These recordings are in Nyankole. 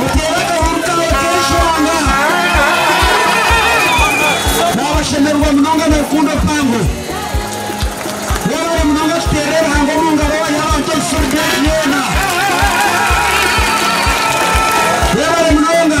Muteere akahuru kaawe k'eishonga. Naabashemererwa munonga na rukundo mpango. Mwebale munonga tuteerere Ruhanga omu ngaro owaaiha abantu ebisisani byaitu byona. Mwebale munonga.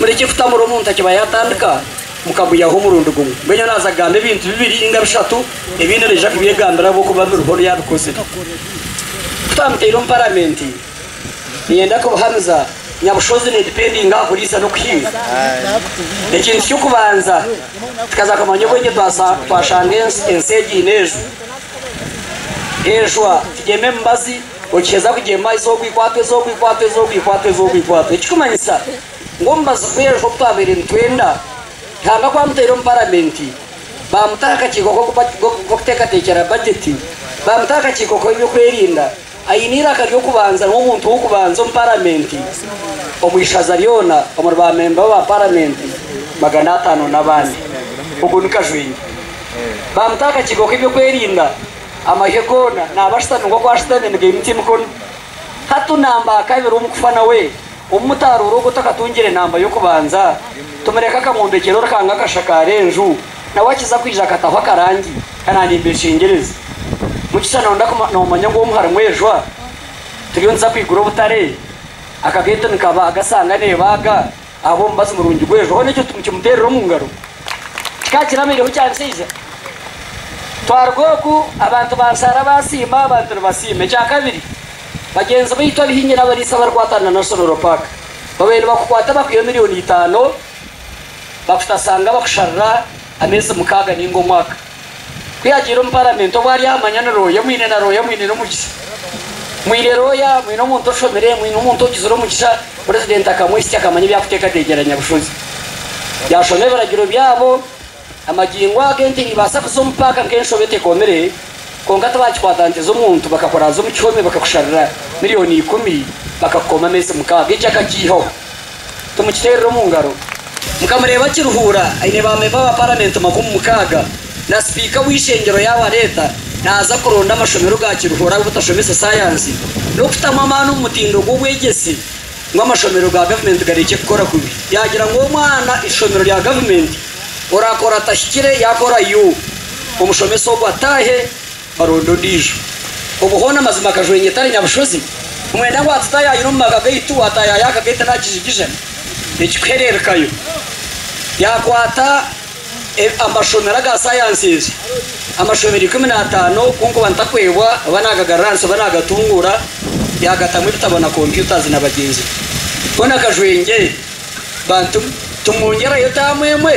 mureke kutamura omuntu akiba yatandika mukamuyaho omurundi gumwe mbwenu naaza kugamba ebintu bibiri ninga bishatu ebindi naija kubyegambira ahabwokuba biriho oru yabikozire kutamuteire omu paramenti Niinyenda kubuhamiza nyabushozi needipendinga aha kuriisa n'okuhinga. Ekintu ky'okubanza, tukaza kumanya obwengye twashanga ensi egi eine enjwa. Enjwa tigyema emibazi, okiheza kugyema eizooba okaikwatwa, eizooba okaikwatwa, eizooba okaikwatwa, eizooba okaikwatwa. Ekirikumanyisa ngu omubazi gw'enjwa ogu twabaire nitwenda, Ruhanga ku amuteire omu Paramenti, baamutaho akakiiko k'okuteekateekyera bajeti, baamutaho akakiiko k'ebyokwerinda, Aine eiraka ry'okubanza niwe muntu w'okubanza omu paramenti omu ishaza ryona omuri baamemba ba paramenti magana ataano n'abandi. Ogwo ni Kajwengye. Baamuta aha kakiiko k'ebyokwerinda amahyo goona naaba ashutami nk'oku ashutami nigaimutsya emikono. Hati naamba aha kabiri omu kufa nawe. Obu mutaroora ogwo otakatungire namba y'okubanza, tumureke akamwombekyera orukanga akashakaare enju, nawe akiza kwija akataho akarangi kana nimbeshengyereza. Mugisha noda ku nomanya ngu omu harimu ejwa, turiyo nituza kwigura obutare, akagate nikaba agasanga nebaaga ahabwa omubazi murungi gw'ejwa hoona ekyo mukimuterera omu ngaro. Kikaba kirabaireho kya nshaija. Twaruga oku abantu banshaara basiima abantu nibasiima. Ekya kabiri. Bagyenzi baitu abahingi n'abariisa abarikwatana na National Park babaire nibakukwata abakuhaiha emirioni itaano bakutashanga bakusharira ameezi mukaaga nainga omwaka. Ku yaagiire omu Paramenti obwo ari aha manya ni Rooya omwine na Rooya omwine n'omugisha. Mwine Rooya mwine omuntu oshomire, mwine omuntu ogizire omugisha. Purezidenti akamwesitya akamanya ebyakuteekateekyera Nyabushozi. Yaashoma ebiragiro byabo. Amagingo aga ente niibaasa kuza omu paaka nk'enshobe etekomire, kwonka tibaakikwatanisiza omuntu bakakora haza omu kihome bakakusharira milioni ikumi bakakukoma ameezi mukaaga. Ekyo akakiihaho. Timukiteerera omu ngaro. Mukamureeba Kiruhura aine baamemba ba Paramenti makumi mukaaga na sipiika w'eishengyero yaabareeta naaza kuronda amashomero ga Kiruhura agu butashomesa saayansi n'okutamu amaani omu mutindo gw'obwegyese. ngu amashomero ga gavumenti garekye kukora kubi. Yaagira ngu omwana eishomero rya gavumenti oraakora atahikire yaakora yu, omushomesa ogwo ataahe baronde ondiijo. Obwo hoona mazima akajwenya etari nyabushozi? Nimwenda ngu hati taayayire omu maka gaitu waataayaya akagaitu naakijigija? Ekikuhereerekayo, yaakwata. Amashomero aga sayansi egi amashomero ikumi n'ataano kunkuba ntakwebwa oba nagagarura ahansi oba nagatunguura yagatamu ebitabo na computers na bagyenzi be koona kajwengye bantu tumwongyerayo term emwe.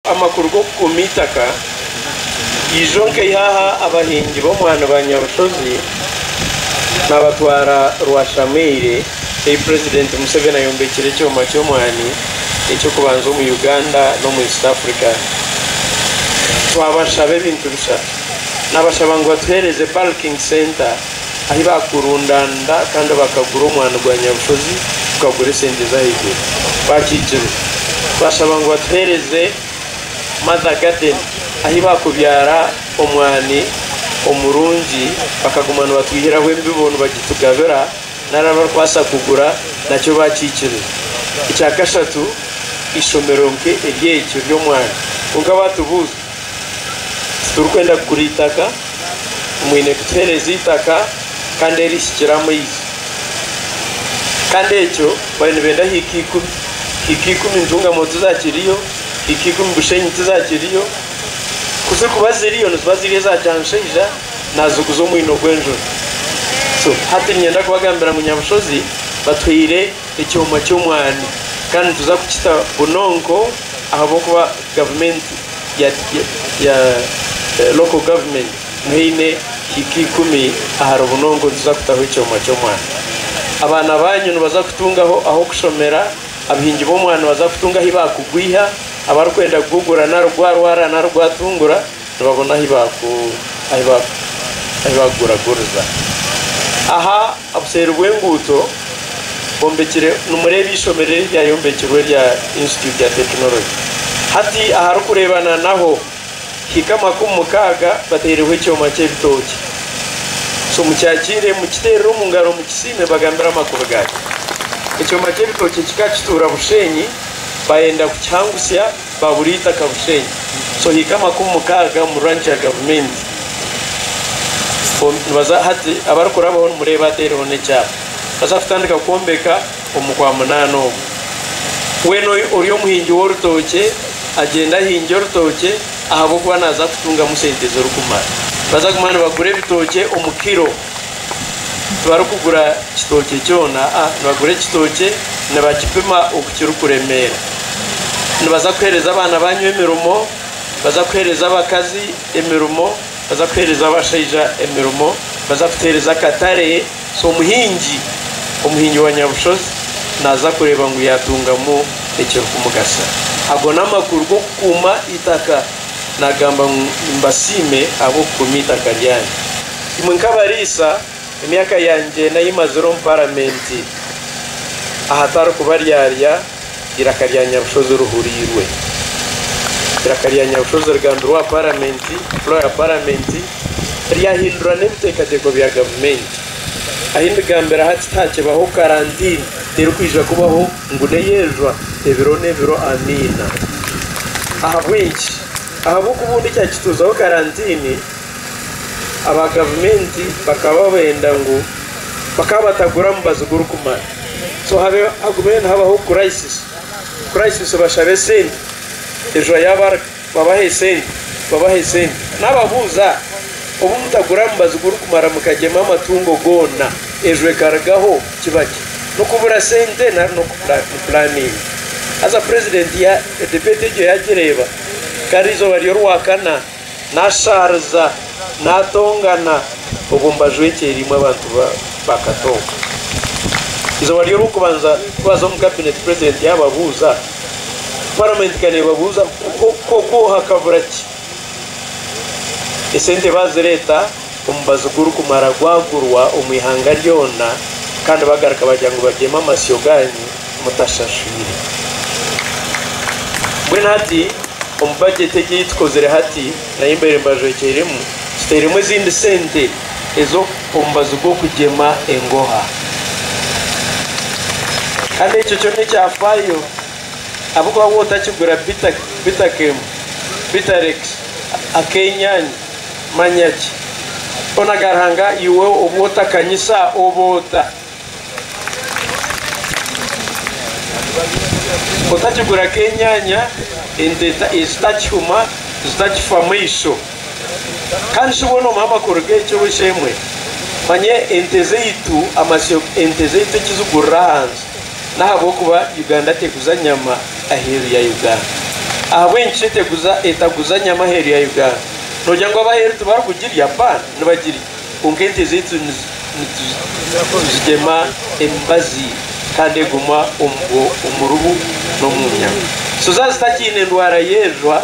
Amakuru g'okukuuma eitaka Ijonka Ihaha Abahingi b'omwani ba Nyabushozi nabatwara Rwashameire ei Purezidenti Museveni ayombekire ekyoma ky'omwani eky'okubanza omu Uganda n'omu East Africa Twabashaba ebintu bishatu Nabashaba ngu batuheereze Bulking Centre Ahi baakurundaanira kandi bakagura omwani gwa nyabushozi gukagura esente z'ahaiguru. Baakiikirwe twashaba ngu batuheereze Mother Garden ahi baakubyara omwani omurungi bakaguma nibatwihiraho embibo nibagitugabira nari abarikwasa kugura nakyo baakiikirwe. Ekya kashatu eishomero nke ery'ekyo ry'omwani kwonka baatubuuza. Titurikwenda kugura eitaka, mwine kutuheereza eitaka kandi erihikire amaizi. Kandi ekyo bari nibenda hiika ikumi. Hiika ikumi Ntungamo tizakiriyo, hiika ikumi Bushenyi tizakiriyo. Ku zirikuba ziriyo niziba ziri eza Kyanshaija naaziguza omwino gw'enjura. So hati niinyenda kubagambira ngu Nyabushozi batuhaire ekyoma ky'omwani kandi nituza kukita bunonko ahabw'okuba Gavumenti ya ya local government niho eine hiika ikumi aha rubunonko nituza kutaho ekyoma ky'omwani. Abaana banyu nibaza kutungaho ah'okushomera, abahingi b'omwani nibaza kutunga ahi bakugwiha, abarikwenda kugugura nari gwarwara nari gwatungura, Nibabona ahi baakuguraguriza. Aha buseeri bw'enguuto bombekire nimureeba eishomero eri ryayombekirwe erya Institute ya Tekinologi. Hati aharikureebana naho hika amakumi mukaaga bataireho ekyoma ky'ebitookye. So mukyakire mukiteerere omu ngaro mukisiime bagambire amakubi gaakyo. Ekyoma ky'ebitookye kikakituura Bushenyi bayenda kukihangutsya. Baburiita Kabushenyi so hiika amakumi mukaaga omu ranch ya gavumenti nibaza hati abarikurabaho nimureeba ateereho n'ekyapa baza kutandika kwombeka omu kwa munaana omu weena ori omuhingi w'orutookye agyenda ahingye orutookye ahabw'okuba naaza kutungamu sente zirikumara baza kuguma nibagura ebitookye omu kiro tibarikugura kitookye kyona, nibagura ekitookye nibakipima oku kirikuremeera. Nibaza kuheereza abaana banyu emirimo, nibaza kuheereza abakazi emirimo, nibaza kuheereza abashaija emirimo, nibaza kuteereza akatare. So omuhingi, omuhingi wa Nyabushozi naaza kureeba ngu yaatungamu ekirikumugasira. Ago n'amakuru g'okukuuma eitaka. Naagamba ngu, Mbasiime ahabw'okukuuma eitaka ryanyu. Imwe nk'abariisa, emyaka yangye n'ayi mazire omu Paramenti ahatari kubaryarya, eiraka rya Nyabushozi rihuriirwe. Eiraka rya Nyabushozi rigambirwe aha Paramenti, Fulo ya Paramenti, ryahindura n'ebiteekateeko bya Gavumenti. Ahi ndigambira hati tihaakibaho karantiini erikwija kubaho ngu n'eyejwa ebiro n'ebiro. Amiina. Ahabw'enki? Ahabw'okubundi kyakituuzaho karantiini. aba gavumenti bakaba benda ngu bakaba batagura mubazi gurikumara so hagumire nihabaho crisis crisis bashabe sente ejura yabarga babahe sente babahe sente nababuza obu mutagura mubazi gurikumara mukagyema amatungo goona ejura ekarugaho kiba ki nokubura sente nari noku planinga haza president ya debate egyo yagireba gari izooba ryorwakana Nashaariza, natongana, obwo mbajwekyereiremu abantu bakatooka. Eizooba ry'orwokubanza twaza omu kabineeti purezidenti yababuuza, paramenti ka nebabuuza ngu, Ku okwoha kabura ki? Esente bazireeta. Omubazi gurikumara gwagurwa omu ihanga ryona kandi bagaruka bagira ngu babyeme amasyo gaanyu mutashashwire. Mbwenu hati omu bajeti egi ei tukozire hati nahi mbaire mbajwekyeremu, tuteiremu ezindi sente ez'omubazi gw'okugyema engoha. Kandi ekyo kyona ekyafaayo ahabw'okuba waaba otakigura bita, bita kemu, bita rekisi, ak'enyaanya, Manya ki? Boona ga Ruhanga iwe obu otakanyisa oba ota. Otakigura k'enyanya, ente ezitakihuma, zitakifa maiso. Kandi shi boona omuha amakuru g'eki oba eki emwe? Manya ente zaitu, amasyo ente zaitu eki zigurira ahansi. N'ahabw'okuba Uganda teguza nyama aheeru ya Uganda. Ahabw'enki shi eteguza etaguza nyama aheeru ya Uganda? Noogira ngu ab'aheeru tibarikugirya? Bba, nibagirya. Kwonka ente zaitu nituzigema emibazi kandi eguma omu rubu n'omu nyama. Suza zitakiine endwara y'erijwa,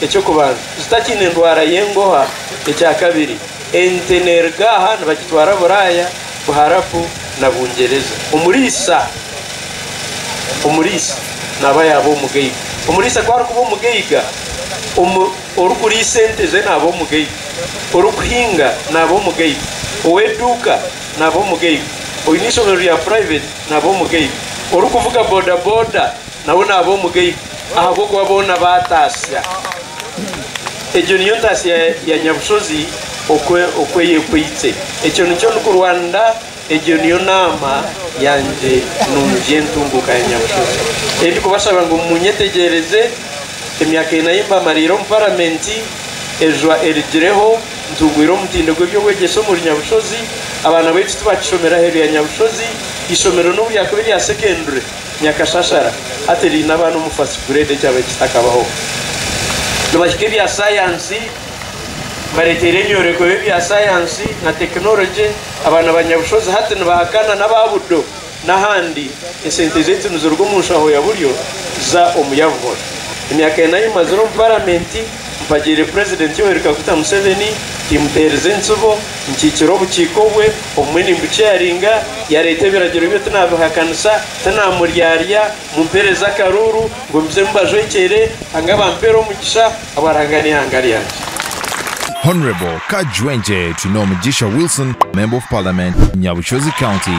eky'okubanza. Zitakiine endwara y'enguha, ekya kabiri. Ente neeruga aha nibagitwara Buraaya, Buharabu na Bungyereza. Omuriisa, omuriisa naaba yaaba omugaiga. Omuriisa ku arikuba omugaiga, omu. Orikuriisa esente ze naaba omugaiga, orikuhinga naaba omugaiga, ow'eduuka naaba omugaiga, oine eishomero rya purayiveti naaba omugaiga, orikuvuga bodaboda nawe naaba omugaiga ahabw'okuba boona baataasya. Egyo niyo ntaasya ya Nyabushozi okweyekwitse. Ekyo nikyo ndikurwanira. Egyo niyo naama yangye nungi entunguuka ya Nyabushozi ei ndikubashaba ngu munyetegyereze emyaka ena ei mbamariire omu Paramenti. Eijwa erigireho ntungwire omutindo gw'eby'obwegyese omuri Nyabushozi. Abaana baitu tibakishomera aheeru ya Nyabushozi. Eishomero n'obu ryakuba erya sekendure nyakashashara, hati riine abaana omu First Grade ekyaba kitakabaho. Nibahika ebya sayansi, mbareeteire ebyoreko by'ebya sayansi na tekinologye. Abaana ba Nyabushozi hati nibahakana n'aba Budo n'ahandi. Esente zaitu niziruga omu nshaho ya buryo za omu ya buhoro. Emyaka ena ei mazire omu paramenti, mpagiire purezidenti Yoweri Kaguta Museveni, timuteerize entsibo, nkiikire obukiiko bwe, obumwe nimbuceyaringa, yareeta ebiragiro bye tinabihakanisa, tinamuryarya, mumpereze akaruuru ngu mbizemu mbajwekyere, hanga bampere omugisha. Habwa Ruhanga n'eihanga ryangye. Hon Kajwengye Twinomugisha Wilson, Member of Parliament, Nyabushozi County.